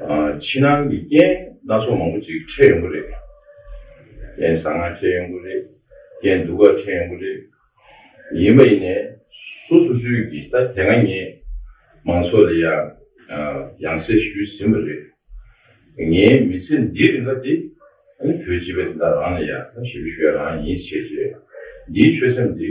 ཕྱི་ནང་གི་རྐྱེན་སྣ་ཚོགས་མང་པོ་ཅིག་འཕྲད་ཡོང་གི་རེད། རྐྱེན་བཟང་ངན་འཕྲད་ཡོང་གི་རེད། རྐྱེན་སྡུག་ག་འཕྲད་ཡོང་གི་རེད། ཡིན་པ་ཡིན་ནས་སུ་སུ་སུས་ཀྱིས་ད་དེ་སྔ་ངས་མང་ཚོགས་ལ་ཡང་ཡང་གསལ་ཞུས་ཟིན་པ་རེད། ངའི་མི་ཚེ་འདིའི་རིང་ག་དེ་བོད་སྤྱི་པའི་དེ་དག་རང་ལ་ཡང་ཞིབ་ཞུ་ཡ་རང་ཡིན་ཞེས་བཤད། འདིའི་ཆོད་སེམས་འདི།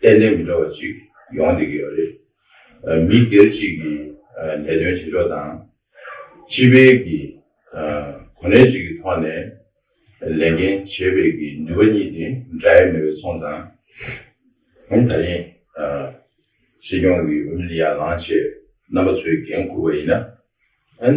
གཏན་ནས་མི་འདྲ་བ་ཅིག་ཡོང་བསྡད་ཀྱི་ཡོད་རེད། མི་སྒེར་གཅིག་གི་ལས་དོན་བྱེད་ཕྱོགས་དང། སྤྱི་བའི་གི་གོ་གནས་གཅིག་གི་ཐོག་ནས་ལས་འགན་བྱེད་པའི་གི་ནུས་པ་གཉིས་དེ་འདྲ་ཡོད་མེད་པའི་སོང་ཙང། ད་ཐེངས་སྲིད་སྐྱོང་གི་འོས་མི་ལི་ཡ་ལང་ཆེ་རྣམ་པ་ཚོའི་འགན་འཁུར་བ་ཡིན་ན།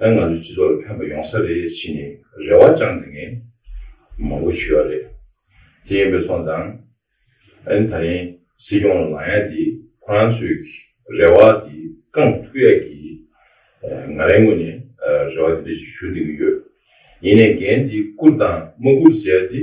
ང་ཚོའི་སྤྱི་ཚོགས་ལ་ཕན་པ་ཡོང་ས་རེད་ཕྱིན་ནས་རེ་བ་བཅངས་དེ་ངས་མང་པོ་ཞུས་པ་རེད། དེ་ཡིན་པས་སོང་ཙང། ཨན་ད་རིང་སྲིད་སྐྱོང་ལ་ལངས་ཡ་དེ་ཁོ་རང་ཚོའི་རེ་བ་དེ་བསྐངས་ཐུབ་ཡ་གི། ང་རང་ངོས་ནས་རེ་བ་དེ་འདྲ་ཞིག་ཞུ་འདོད་ཀྱི་ཡོད། ཡིན་ནས་འགན་དེ་བསྐུར་དང་མ་བསྐུར་ཟེར་ཡ་དེ།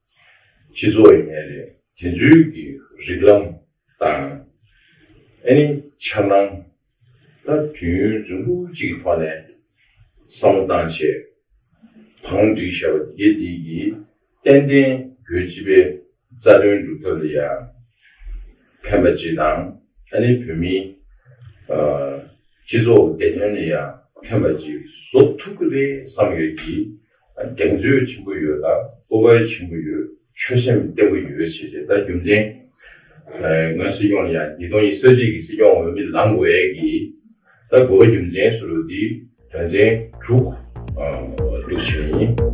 སྤྱི་ཚོགས་ཡིན་ངེས་རེད། དེ་ཚོའི་གི་རིགས་ལམ་དང། ཨེ་ནི་འཆར་སྣང། ལ་དུས་ཡུན་རིང་པོ་གཅིག་གི་ཐོག་ནས་བསམ་བློ་བཏང་ཆེད། བང་སྒྲིག་བྱས་པ་དེ་དེ་གི་ཏན་ཏན་བོད་སྤྱི་པའི་རྩ་དོན་སྒྲུབ་ཐབས་ལ་ཡང་ཕན་པ་ཅི་དང་ཨེ་ནི་བོད་མིའི་སྤྱི་ཚོགས་བདེ་དོན་ལ་ཡང་ཕན་པ་ཅི་བཟོ་ཐུབ་ཀི་རེད་བསམ་ཡོད་ཀི། གདེང་ཚོད་ཆེན་པོ་ཡོད་ལ་སྤོབས་པ་ཆེན་པོ་ཡོད་ཆོད་སེམས་བརྟན་པོ་ཡོད་བྱས་རྗེས་ད་རྒྱུ་མཚན། ངའི་སྲིད་སྐྱོང་ནི་ཡང་ཉིས་སྟོང་ཉིས་བརྒྱད་ཀྱི་སྲིད་སྐྱོང་འོས་མི་ལངས་དགོས་ཡས་ཀྱི་ད་དགོས་པ་རྒྱུ་མཚན་སུ་རུ་དེ། དོན་ཚན་དྲུག། འདུ་བྱེད་ཡིན།